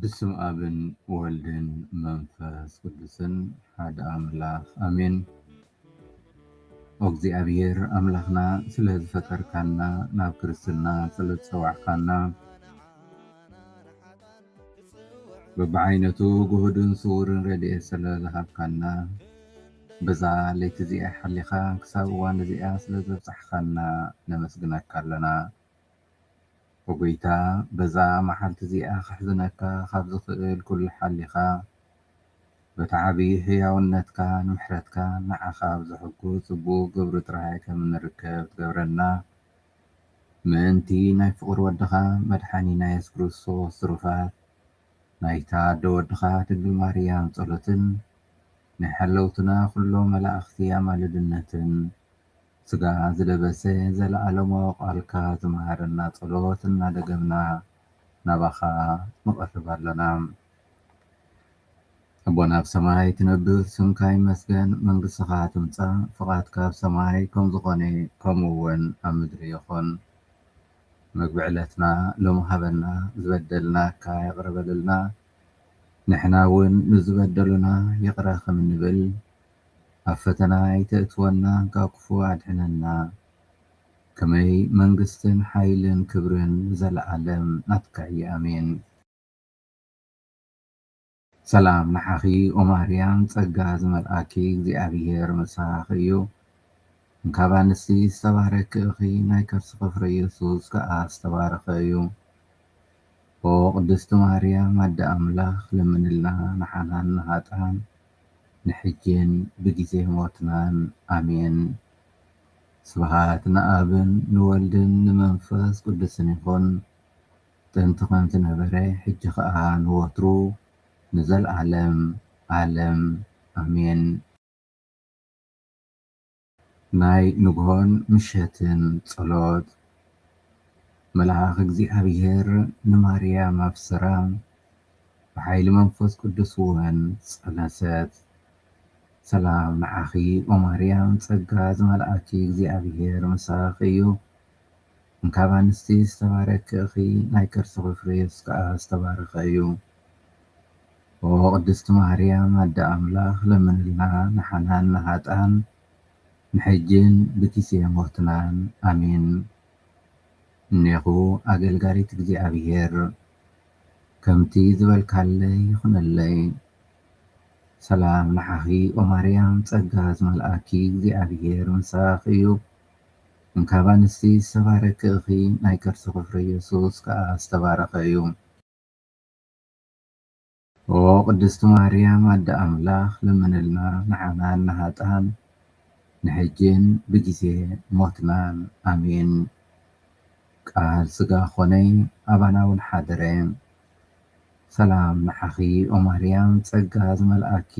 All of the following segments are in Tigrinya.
ብስም ኣብን ወልድን መንፈስ ቅዱስን ሓደ ኣምላክ ኣሜን። ኦግዚኣብሄር ኣምላክና ስለ ዝፈጠርካና ናብ ክርስትና ስለ ዝጸዋዕካና በብዓይነቱ ግሁድን ስዉርን ረድኤት ስለ ዝሃብካና በዛ ለይቲ እዚኣ ሓሊኻ ክሳብ እዋን እዚኣ ስለ ዘብጻሕካና ነመስግነካ ኣለና። ኦጎይታ በዛ ማዓልቲ እዚኣ ከሕዝነካ ካብ ዝክእል ኩሉ ሓሊካ በቲ ዓብይ ሕያውነትካ ን ምሕረትካን ንዓካ ኣብ ዘሕጉስ ጽቡቅ ግብሪ ጥራይ ከም እንርከብ ትገብረና ምእንቲ ናይ ፍቁር ወድካ መድሓኒና የሱስ ክርስቶስ ትሩፋት ናይታ ኣደ ወድካ ድንግል ማርያም ጸሎትን ናይ ሓለውትና ኩሎም መላእክቲ ኣማልድነትን ስጋ ዝለበሰ ዘለኣለማዊ ቃልካ ዝመሃረና ጸሎት እናደገምና ናባኻ ንቐርብ ኣሎና። ኣቦና ኣብ ሰማይ ትነብር ስምካ ይመስገን መንግስትኻ ትምጻእ ፍቓድካ ኣብ ሰማይ ከም ዝኾነ ከምኡ ውን ኣብ ምድሪ ይኹን። መግቢ ዕለትና ሎሚ ሃበና ዝበደልናካ ይቕረ በለልና ንሕና ውን ንዝበደሉና ይቕረ ከም እንብል። ኣብ ፈተና ኣይተእትወና ካብ ክፉእ ኣድሕነና ከመይ መንግስትን ሓይልን ክብርን ንዘላኣለም ናትካ እዪ ኣሜን። ሰላም ንዓኺ ኦማርያም ጸጋ ዝመልኣኪ እግዚኣብሄር ምሳኺ እዩ እንካብ ኣንስቲ ዝተባረኪ እኺ ናይ ከርስኺ ፍረ የሱስ ከኣ ዝተባረኸ እዩ ኦ ቅድስቲ ማርያም ኣደ ኣምላኽ ለምንልና ንዓናን ንሃጣን ንሕጂን ብጊዜ ሞትናን ኣሜን። ስብሃት ንኣብን ንወልድን ንመንፈስ ቅዱስን ይኹን ጥንቲ ከምቲ ነበረ ሕጂ ከኣ ንወትሩ ንዘልኣለም ኣለም ኣሜን። ናይ ንግሆን ምሸትን ጸሎት መልኣኽ እግዚኣብሔር ንማርያም ኣብሠራ፣ ብኃይሊ መንፈስ ቅዱስውን ጸነሰት። ሰላም ንዓኺ ኦማርያም ጸጋ ዝመልኣኪ እግዚኣብሔር ምሳኽ እዩ። ን ካብ ኣንስቲ ዝተባረኪ እኺ ናይ ከርስኺ ፍረ የሱስ ከኣ ዝተባረኸ እዩ ኦሆ ቅድስቲ ማህርያም ኣደ ኣምላኽ ለምንልና ንሓናን ንሃጣን ን ሕጂን ብጊዜ ሞትናን ኣሜን እኔኹ ኣገልጋሊት እግዚኣብሔር ከምቲ ዝበልካለይ ይኹነለይ ሰላም ንዓኺ ኦማርያም ጸጋ ዝመልኣኪ እግዚኣብሔር ምሳኺ እዩ እንካብ ኣንስቲ ዝተባረኪ እኺ ናይ ከርስኺ ፍረ የሱስ ከኣ ዝተባረኸ እዩ። ኦዎ ቅድስቲ ማርያም ኣደ ኣምላኽ ለምንልና ንዓናን ንሃጣን ንሕጂን ብጊዜ ሞትናን ኣሜን። ቃል ስጋ ኮነ ኣባና ውን ሓደረ። ሰላም ንዓኺ ኦማርያም ጸጋ ዝመልኣኪ።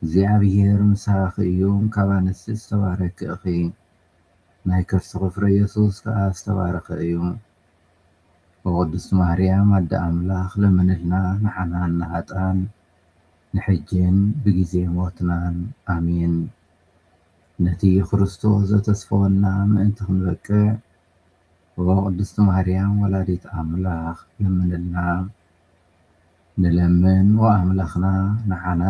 እግዚኣብሔር ምሳኺ እዩ ካብ ኣንስቲ ዝተባረኪ እኺ ናይ ከርስኺ ፍረ የሱስ ከኣ ዝተባረኸ እዩ ኦ ቅድስት ማርያም ኣደ ኣምላኽ ለምንልና ንዓና ንሃጥኣን ንሕጂን ብጊዜ ሞትናን ኣሜን ነቲ ክርስቶስ ዘተስፈወና ምእንቲ ክንበቅዕ ኦ ቅድስት ማርያም ወላዲት ኣምላኽ ለምንልና ንለምን ኦ ኣምላኽና ንዓና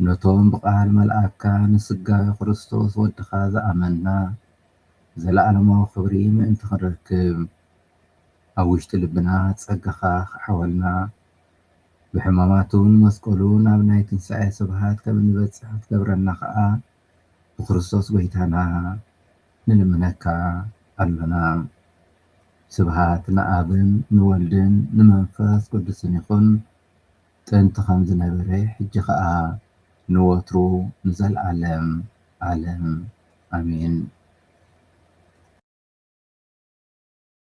ነቶም ብቃል መልኣካ ንስጋዌ ክርስቶስ ወድካ ዝኣመንና ዘለኣለማዊ ክብሪ ምእንቲ ክንረክብ ኣብ ውሽጢ ልብና ጸጋካ ክዓወልና ብሕማማቱን መስቀሉን ኣብ ናይ ትንሳኤ ስብሃት ከም እንበጽሕ ክትገብረና ከኣ ብክርስቶስ ጎይታና ንልምነካ ኣሎና። ስብሃት ንኣብን ንወልድን ንመንፈስ ቅዱስን ይኹን ጥንቲ ከም ዝነበረ ሕጂ ከኣ ንወትሩ ንዘልኣለም ኣለም ኣሜን።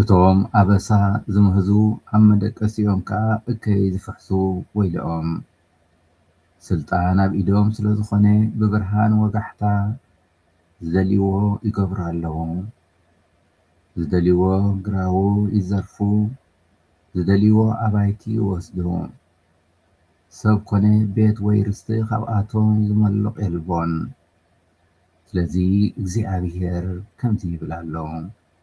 እቶም ኣበሳ ዝምህዙ ኣብ መደቀሲኦም ከኣ እከይ ዝፍሕሱ ወይልኦም። ስልጣን ኣብ ኢዶም ስለ ዝኾነ ብብርሃን ወጋሕታ ዝደልዩዎ ይገብሩ ኣለዉ። ዝደልዩዎ ግራዉ ይዘርፉ፣ ዝደልዩዎ ኣባይቲ ይወስዱ። ሰብ ኮነ ቤት ወይ ርስቲ ካብኣቶም ዝመልቕ የልቦን። ስለዚ እግዚኣብሄር ከምዚ ይብል ኣሎ።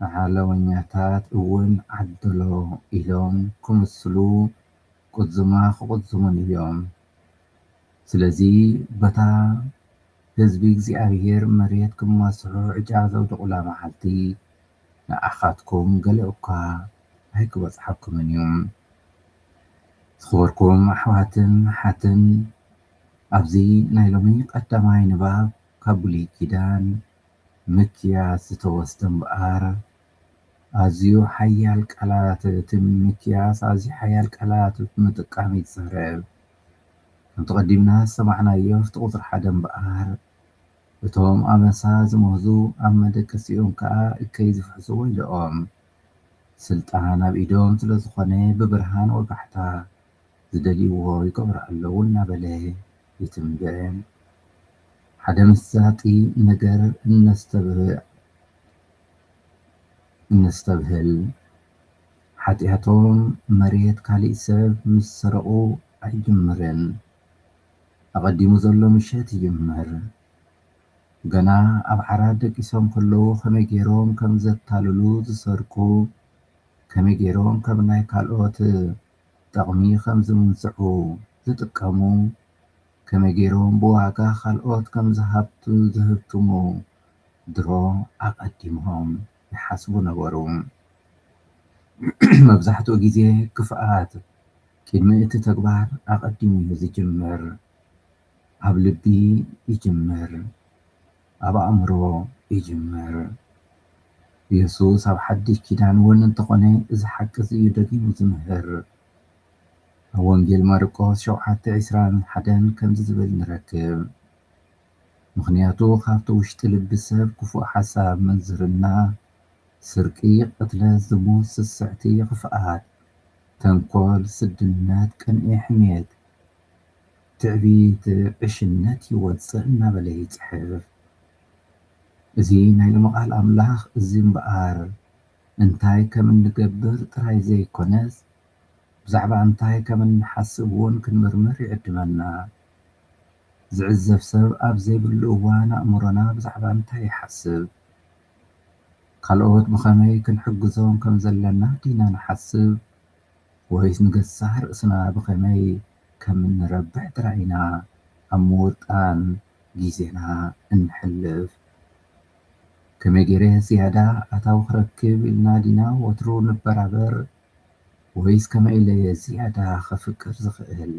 ንዓለመኛታት እውን ዓደሎ ኢሎም ክምስሉ ቁዝማ ክቁዝሙን እዮም። ስለዚ በታ ህዝቢ እግዚኣብሄር መሬት ክማስሑ ዕጫ ዘውድቑላ መዓልቲ ንዓኻትኩም ገለ'ኳ ኣይክበጽሓኩምን እዩ። ዝኸበርኩም ኣሕዋትን ኣሓትን ኣብዚ ናይ ሎሚ ቀዳማይ ንባብ ካብ ብሉይ ኪዳን ምክያስ ዝተወስደ እምበኣር ኣዝዩ ሓያል ቃላት እቲ ምክያስ ኣዝዩ ሓያል ቃላት ብምጥቃም ይዛረብ። ከምቲ ቀዲምና ዝሰማዕናዮ ኣብቲ ቁጽሪ ሓደ እምበኣር እቶም ኣበሳ ዝምህዙ ኣብ መደቀሲኦም ከኣ እከይ ዝፍሕስዎ ኢሎኦም። ስልጣን ኣብ ኢዶም ስለዝኾነ ብብርሃን ወጋሕታ ዝደልይዎ ይገብሩ ኣለዉ እናበለ ይትንብዕን ሓደ መሳጢ ነገር እነስተብህል ሓጥያቶም መሬት ካሊእ ሰብ ምስ ሰረቑ ኣይጅምርን ኣቐዲሙ ዘሎ ምሸት ይጅምር ገና ኣብ ዓራት ደቂሶም ከለዉ ከመይ ገይሮም ከም ዘታልሉ ዝሰርቁ ከመይ ገይሮም ከም ናይ ካልኦት ጠቕሚ ከም ዝምንዝዑ ዝጥቀሙ፣ ከመይ ገይሮም ብዋጋ ካልኦት ከም ዝሃብቱ ዝህብትሙ ድሮ ኣቐዲሞም ይሓስቡ ነበሩ። መብዛሕትኡ ግዜ ክፍኣት ቅድሚ እቲ ተግባር ኣቐዲሙ እዩ ዝጅምር። ኣብ ልቢ ይጅምር። ኣብ ኣእምሮ ይጅምር። የሱስ ኣብ ሓድሽ ኪዳን እውን እንተኾነ እዚ ሓቂ እዚ እዩ ደጊሙ ዝምህር። ኣብ ወንጌል ማርቆስ ሸውዓተ ዕስራን ሓደን ከምዚ ዝብል ንረክብ፣ ምኽንያቱ ካብቲ ውሽጢ ልቢ ሰብ ክፉእ ሓሳብ፣ ምንዝርና፣ ስርቂ፣ ቅትለት፣ ዝሙት፣ ስስዕቲ፣ ኽፍኣት፣ ተንኮል፣ ስድነት፣ ቅንኢ፣ ሕሜት፣ ትዕቢት ዕሽነት እዩ ወጽእ እናበለ ይጽሕፍ እዚ ናይ ሎሚ ቃል ኣምላኽ እዚ እምበኣር እንታይ ከም እንገብር ጥራይ ዘይኮነስ ብዛዕባ እንታይ ከም እንሓስብ እውን ክንምርምር ይዕድመና ዝዕዘብ ሰብ ኣብ ዘይብሉ እዋን ኣእምሮና ብዛዕባ እንታይ ይሓስብ ካልኦት ብኸመይ ክንሕግዞም ከም ዘለና ዲና ንሓስብ ወይስ ንገዛእ ርእስና ብኸመይ ከም እንረብሕ ጥራይ ኢና ኣብ ምውጣን ግዜና እነሕልፍ? ከመይ ገይረ ዝያዳ ኣታዊ ክረክብ ኢልና ዲና ወትሩ እንበራበር? ወይስ ከመይ ኢለ እየ ዝያዳ ከፍቅር ዝኽእል?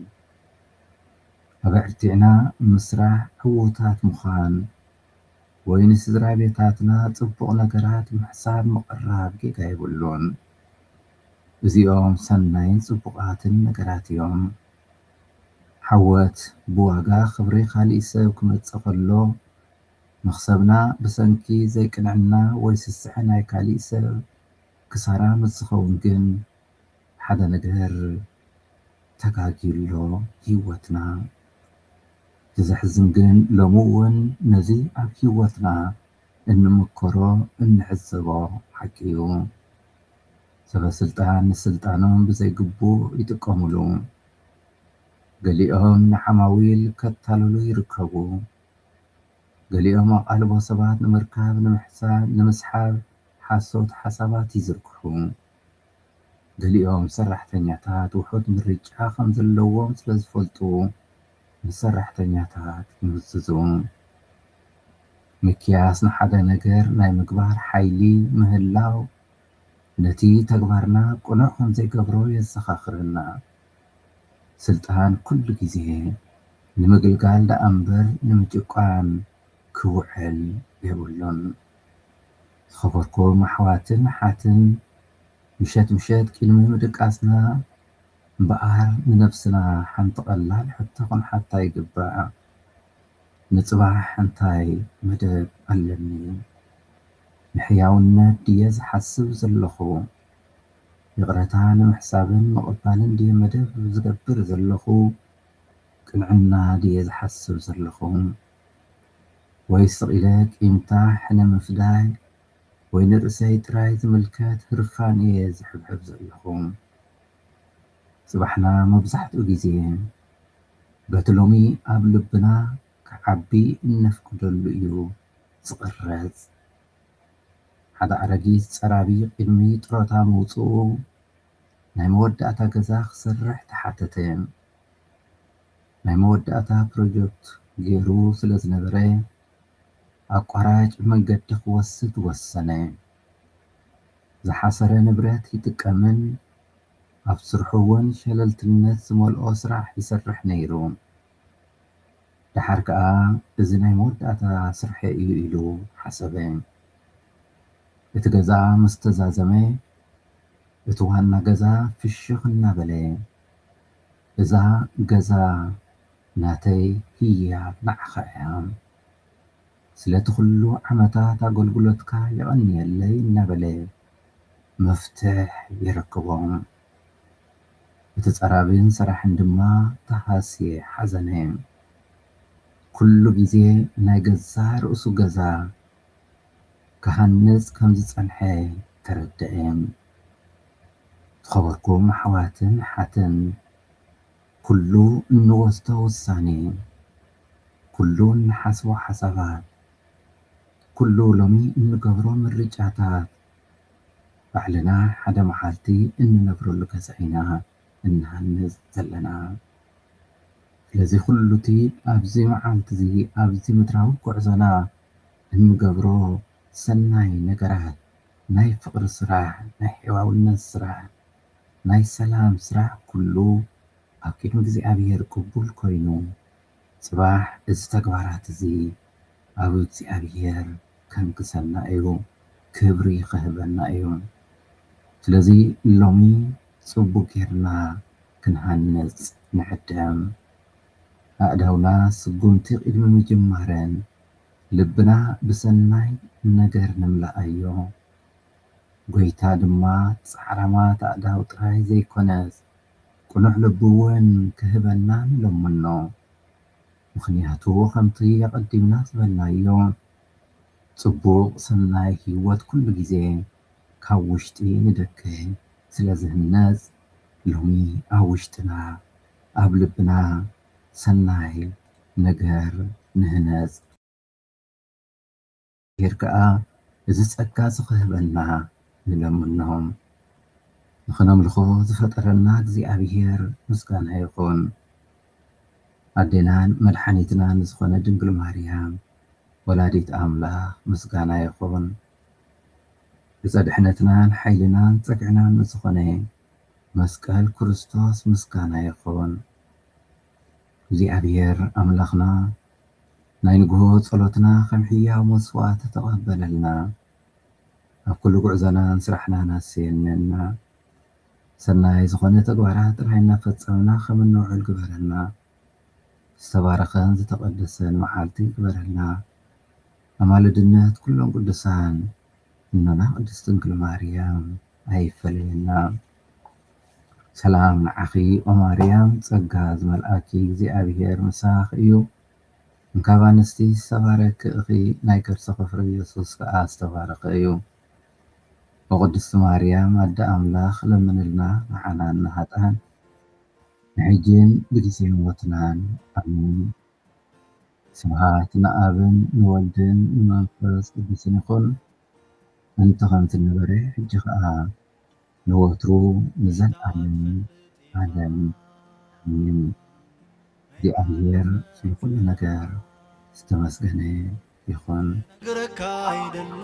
ኣበርቲዕና ምስራሕ፣ ዕዉታት ምዃን፣ ወይ ንስድራቤታትና ጽቡቕ ነገራት ምሕሳብ ምቕራብ ጌጋ የብሉን። እዚኦም ሰናይን ጽቡቓትን ነገራት እዮም። ዓወት ብዋጋ ክብሪ ካልእ ሰብ ክመጽእ ከሎ፣ መኽሰብና ብሰንኪ ዘይቅንዕና ወይ ስስዐ ናይ ካልእ ሰብ ክሳራ ምስ ዝኸውን ግን ሓደ ነገር ተጋግዩ ኣሎ ህይወትና። እቲ ዘሕዝን ግን ሎሚ እውን ነዚ ኣብ ህይወትና እንምከሮ እንዕዘቦ ሓቂ እዩ። ሰበስልጣን ንስልጣኖም ብዘይግቡእ ይጥቀሙሉ። ገሊኦም ንዓማዊል ከታልሉ ይርከቡ። ገሊኦም ኣቓልቦ ሰባት ንምርካብ ንምስሓብ ሓሶት ሓሳባት ይዝርግሑ። ገሊኦም ሰራሕተኛታት ውሑድ ምርጫ ከም ዘለዎም ስለዝፈልጡ ምስ ሰራሕተኛታት ይምዝዙ። ሚክያስ ንሓደ ነገር ናይ ምግባር ሓይሊ ምህላው ነቲ ተግባርና ቅኑዕ ከም ዘይገብሮ የዘኻኽረና። ስልጣን ኩሉ ግዜ ንምግልጋል ደኣ እምበር ንምጭቋን ክውዕል የብሉን። ዝኸበርኩም ኣሕዋትን ኣሓትን ምሸት ምሸት ቂድሚ ምድቃስና እምበኣር ንነብስና ሓንቲ ቀላል ሕቶ ክንሓታ ይግባእ፣ ንጽባሕ እንታይ መደብ ኣለኒ? ንሕያውነት ድየ ዝሓስብ ዘለኹ? ይቕረታ ንምሕሳብን ምቕባልን ድየ መደብ ዝገብር ዘለኹ? ቅንዕና ድየ ዝሓስብ ዘለኹ? ወይ ስቕ ኢለ ቂምታ፣ ሕነ ምፍዳይ፣ ወይ ንርእሰይ ጥራይ ዝምልከት ህርፋን እየ ዝሕብሕብ ዘለኹ? ጽባሕና መብዛሕትኡ ግዜ በቲ ሎሚ ኣብ ልብና ክዓቢ እነፍቅደሉ እዩ ዝቕረጽ። ሓደ ኣረጊት ጸራቢ ቅድሚ ጡረታ ምውጽኡ ናይ መወዳእታ ገዛ ክሰርሕ ተሓተተ። ናይ መወዳእታ ፕሮጀክቱ ገይሩ ስለ ዝነበረ ኣቋራጭ መንገዲ ክወስድ ወሰነ። ዝሓሰረ ንብረት ይጥቀምን ኣብ ስርሑ እውን ሸለልትነት ዝመልኦ ስራሕ ይሰርሕ ነይሩ። ደሓር ከኣ እዚ ናይ መወዳእታ ስርሐይ እዩ ኢሉ ሓሰበ። እቲ ገዛ ምስ ተዛዘመ እቲ ዋና ገዛ ፍሽኽ እናበለ እዛ ገዛ ናተይ ህያብ ንዓኻ እያ ስለቲ ኩሉ ዓመታት ኣገልግሎትካ የቐንየለይ እናበለ መፍትሕ የረክቦ። እቲ ጸራብን ሰራሕን ድማ ተሃስየ ሓዘነ። ኩሉ ግዜ ናይ ገዛእ ርእሱ ገዛ ክሃንጽ ከም ዝጸንሐ ተረድኤ። ዝኸበርኩም ኣሕዋትን ኣሓትን፣ ኩሉ እንወስዶ ውሳኔ፣ ኩሉ እንሓስቦ ሓሳባት፣ ኩሉ ሎሚ እንገብሮ ምርጫታት፣ ባዕልና ሓደ መዓልቲ እንነብረሉ ገዛ ኢና እንሃንጽ ዘለና። ስለዚ ኩሉቲ ኣብዚ መዓልቲዚ ኣብዚ ምድራዊ ጉዕዞና እንገብሮ ሰናይ ነገራት ናይ ፍቕሪ ስራሕ፣ ናይ ሕያውነት ስራሕ፣ ናይ ሰላም ስራሕ ኩሉ ኣብ ቅድሚ እግዚኣብሔር ቅቡል ኮይኑ ጽባሕ እዚ ተግባራት እዚ ኣብ እግዚኣብሔር ከንግሰና እዩ ክብሪ ክህበና እዩ ስለዚ ሎሚ ጽቡቅ ጌርና ክንሃንጽ ንዕደም ኣእዳውና ስጉምቲ ቅድሚ ምጅማረን ልብና ብሰናይ ነገር ንምልኣዮ ጎይታ ድማ ጻዕራማት ኣእዳው ጥራይ ዘይኮነስ ቅኑዕ ልቡ እውን ክህበና ንለምኖ። ምኽንያቱ ከምቲ ኣቐዲምና ዝበልናዮ ጽቡቕ ሰናይ ሕይወት ኩሉ ጊዜ ካብ ውሽጢ ንደገ ስለ ዝህነጽ ሎሚ ኣብ ውሽጥና ኣብ ልብና ሰናይ ነገር ንህነጽ። እግዚኣብሄር ከኣ እዚ ጸጋ እዚ ክህበና ንለምኖ። ንኽነምልኾ ዝፈጠረና እግዚኣብሄር ምስጋና ይኹን። ኣዴናን መድሓኒትናን ዝኾነ ድንግል ማርያም ወላዲት ኣምላኽ ምስጋና ይኹን። ዕፀ ድሕነትናን ሓይልናን ጸግዕናን ንዝኾነ መስቀል ክርስቶስ ምስጋና ይኹን። እግዚኣብሔር ኣምላኽና ናይ ንግሆ ጸሎትና ከም ሕያው መስዋእት ተቐበለልና። ኣብ ኩሉ ጉዕዞናን ስራሕናን ኣሰየነና። ሰናይ ዝኾነ ተግባራት ጥራይ እናፈጸምና ከም እንውዕል ግበረና። ዝተባረኸን ዝተቐደሰን መዓልቲ ግበረልና። ኣማልድነት ኩሎም ቅዱሳን እኖና ቅድስት ድንግል ማርያም ኣይፈለየና። ሰላም ንዓኺ ኦማርያም ጸጋ ዝመልኣኪ እግዚኣብሄር ምሳኽ እዩ እንካብ ኣንስቲ ዝተባረኪ እኺ ናይ ከርስኺ ፍረ የሱስ ከኣ ዝተባረኸ እዩ ኦቅድስቲ ማርያም ኣደ ኣምላኽ ለምንልና ንዓናን ንሃጣን ንሕጂን ብጊዜ ሞትናን ኣሜን ስብሃት ንኣብን ንወልድን ንመንፈስ ቅዱስን ይኹን ኣንተ ከምቲ ነበረ ሕጂ ከኣ ንወትሩ ንዘልኣለም ኣለም ኣሜን እግዚኣብሔር ስለ ኩሉ ነገር ዝተመስገነ ይኩን። ክነግረካ ኣይደልን።